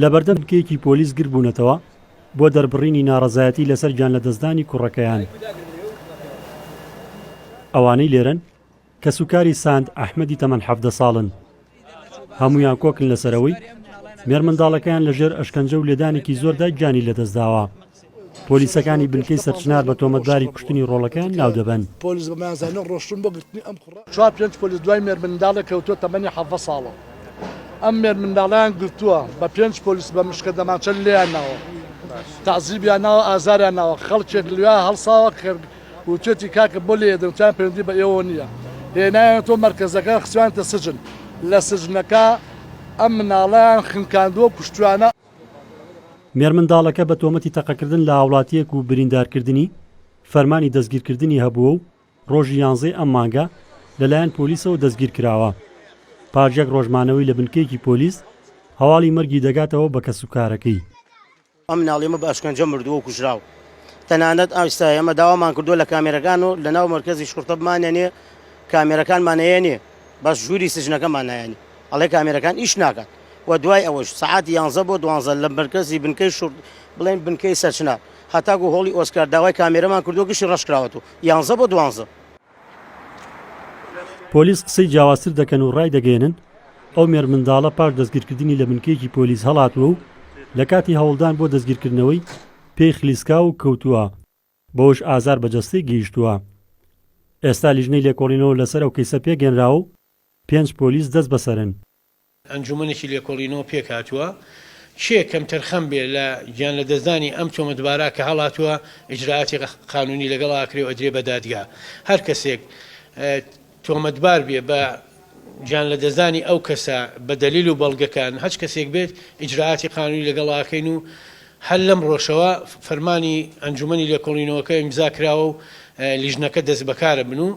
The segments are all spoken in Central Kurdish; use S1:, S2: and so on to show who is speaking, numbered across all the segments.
S1: لەبەردەم بنکەیەکی پۆلیس گردبوونەتەوە بۆ دەربڕینی ناڕەزایەتی لەسەر گیانلەدەستدانی کوڕەکەیان. ئەوانەی لێرەن کەسوکاری ساند ئەحمەدی تەمەن حەڤدە ساڵن. هەموویان کۆکن لەسەرەوەی مێرمنداڵەکەیان لەژێر ئەشکەنجە و لێدانێکی زۆردا گیانی لەدەستداوە. پۆلیسەکانی بنکەی سەرچنار بە تۆمەتباری کوشتنی ڕۆڵەکەیان ناودەبەن.
S2: چوار پێنج پۆلیس دوای مێرمنداڵێک کەوتووە تەمەنی حەڤدە ساڵە، ئەم مێرمنداڵەیان گرتووە بە پێنج پۆلیس بە مشکە دەمانچە لێیان ناوە، تەعزیبیان ناوە، ئازاریان ناوە، خەڵکێک لوێیان هەڵساوە کە وتوێتی کاکە بۆ لێیەدەن وتیان پەیوەندی بە ئێوەوە نییە، هێنایانەتەوە مەرکەزەکە خستویانەتە سجن، لە سجنەکە ئەم مناڵەیان خنکاندووە و کوشتویانە.
S1: مێرمنداڵەکە بە تۆمەتی تەقەکردن لە هاوڵاتییەک و بریندارکردنی، فەرمانی دەستگیرکردنی هەبووە و ڕۆژی یانزەی ئەم مانگە لەلایەن پۆلیسەوە دەستگیرکراوە. پاش یەک ڕۆژ مانەوەی لە بنکەیەکی پۆلیس، هەواڵی مەرگی دەگاتەوە بە کەسوکارەکەی. ئەم
S3: مناڵیمە بە ئەشکەنجە مردووە و کوژراوە. تەنانەت ئێستا ئێمە داوامان کردووە لە کامێرەکان و لەناو مەرکەزی شوڕتە بمانەنێ، کامێرەکانمان هەیە نێ، بەس ژووری سجنەکەمان نایەنێ. ئەڵێ کامێرەکان ئیش ناکات و دوای ئەوەش سەعاتی یانزە بۆ دوانزە لە مەرکەزی بنکەی شوڕ بڵێن بنکەی سەرچنار هەتاکوو هۆڵی ئۆسکار داوای کامێرەمان کردووە گشتی ڕەش کراوەت و یانزە بۆ دوانزە.
S1: پۆلیس قسەی جیاوازتر دەکەن و ڕایدەگەیەنن، ئەو مێرمنداڵە پاش دەستگیرکردنی لە بنکەیەکی پۆلیس هەڵاتووە و لە کاتی هەوڵدان بۆ دەستگیرکردنەوەی پێی خلیسکاو و کەوتووە. بەوەش ئازار بە جەستەی گەیشتووە. ئێستا لیژنەی لێکۆڵینەوە لەسەر ئەو کەیسە پێکهێنراوە و پێنج پۆلیس دەستبەسەرن. ئەنجوومەنێکی
S4: لێکۆڵینەوە پێکهاتووە، کێ کەمتەرخەم بێ لە گیانلەدەستدانی ئەم تۆمەتبارە کە هەڵاتووە، ئیجرائاتی قانوونی لەگەڵا ئەکرێ و ئەدرێ بە دادگا. هەر کەسێک. تۆمەتبار بێ بە گیان لەدەستدانی ئەو کەسە بە دەلیل و بەڵگەکان هەچ کەسێک بێت ئیجرائاتی قانونی لەگەڵ ئاکەین و هەر لەمڕۆشەوە فەرمانی ئەنجومەنی لێکۆڵینەوەکە ئیمزا کراوە و لیژنەکە دەستبەکارە بن و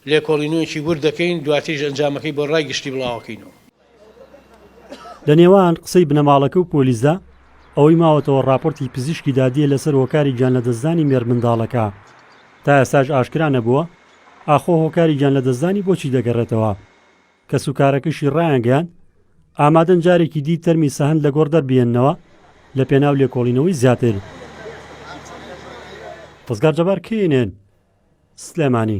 S4: لێکۆڵینەوەیەکی ورد دەکەین دواتریش ئەنجامەکەی بۆ ڕای گشتی بڵاوەکەینەوە.
S1: لە نێوان قسەی بنەماڵەکە و پۆلیسدا ئەوەی ماوەتەوە ڕاپۆرتی پزیشکی دادییە لەسەر هۆکاری گیانلەدەستدانی مێردمنداڵەکە. تا ئێستاش ئاشکرا نەبووە ئاخۆ هۆکاری گیانلەدەستدانی بۆ چی دەگەڕێتەوە. کەسوکارەکەشی ڕایانگەیاند، ئامادەن جارێکی دی تەرمی سەهەند لە گۆڕ دەربهێننەوە لە پێناو لێکۆڵینەوەی زیاتر. ڕزگار جەبار، کەی ئێن ئێن، سلێمانی.